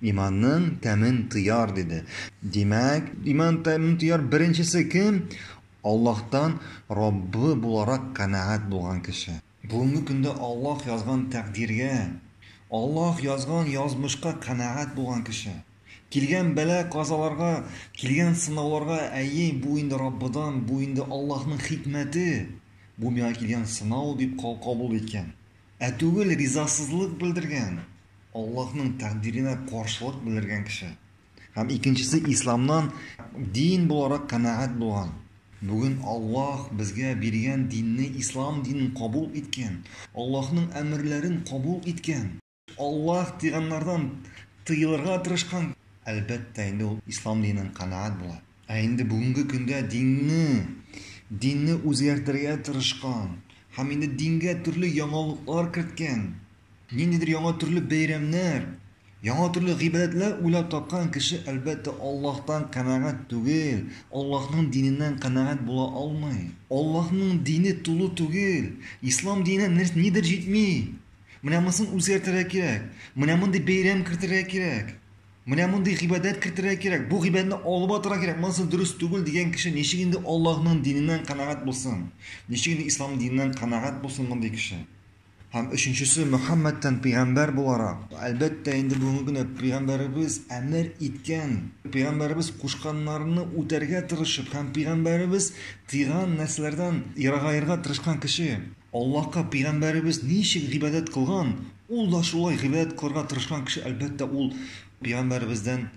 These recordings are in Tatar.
Иманның тәмен тояр, диде. Димәк, иман тәмен тояр беренчесе кем? Аллаһтан Раббы буларак канәгать булган кеше. Бүгенге көндә Аллаһ язган тәкъдиргә, Аллаһ язган язмышка канәгать булган кеше. Килгән бәла-казаларга, килгән сынауларга, әйе, бу инде Раббыдан, бу инде Аллаһның хикмәте, бу миңа килгән сынау дип кабул иткән, ә түгел ризасызлык белдергән. Аллаһның тәкъдиренә каршылык белдергән кеше. Һәм икенчесе исламнан дин буларак канәгать булган. Бүген Аллаһ безгә биргән динне ислам динен кабул иткән, Аллаһның әмерләрен кабул иткән. Аллаһ тыйганнардан тыелырга тырышкан. Әлбәттә, инде ул ислам диненнән канәгать була. Ә инде бүгенге көндә динне, динне үзгәртергә тырышкан һәм инде дингә төрле яңалыклар керткән. Ниндидер яңа төрле бәйрәмнәр, яңа төрле гыйбадәтләр уйлап тапкан кеше, әлбәттә, Аллаһтан канәгать түгел, Аллаһның диненнән канәгать була алмый. Аллаһның дине тулы түгел, Ислам диненә нәр, нидер җитми. Менә монысын үзгәртергә кирәк, менә мондый бәйрәм кертергә кирәк, менә мондый гыйбадәт кертергә кирәк, бу гыйбадәтне алып атырга кирәк, монысы дөрес түгел дигән кеше ничек инде Аллаһның диненнән канәгать булсын, ничек инде Ислам диненнән канәгать булсын мондый кеше? Һәм өченчесе, Мөхәммәдтән пәйгамбәр буларак. Әлбәттә, инде бүгенге көндә пәйгамбәребез әмер иткән, пәйгамбәребез кушканнарны үтәргә тырышып һәм пәйгамбәребез тыйган нәрсәләрдән ерагаерга тырышкан кеше. Аллаһка пәйгамбәребез ничек гыйбадәт кылган, ул да шулай гыйбадәт кылырга тырышкан кеше, әлбәттә, ул пәйгамбәребездән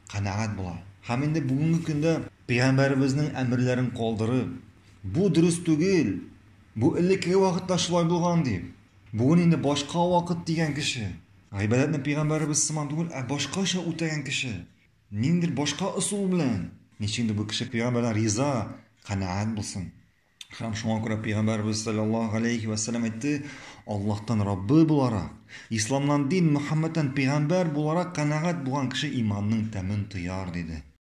канәгать була. Һәм инде бүгенге көндә пәйгамбәребезнең әмерләрен калдырып, бу дөрес түгел! Бу элеккеге вакытта шулай булган, ди. Бүген инде башка вакыт, дигән кеше. Гыйбадәтне пәйгамбәребез сыман түгел, ә башкача үтәгән кеше. Ниндидер башка ысул белән. Ничектер бу кеше пәйгамбәрдән риза, канәгать булсын. Һәм шуңа күрә пәйгамбәребез саллаллаһу галәйһи ва саллям әйтте, Аллаһтан Раббы буларак, исламнан дин, Мөхәммәдтән пәйгамбәр буларак канәгать булган кеше иманның тәмен тояр, диде.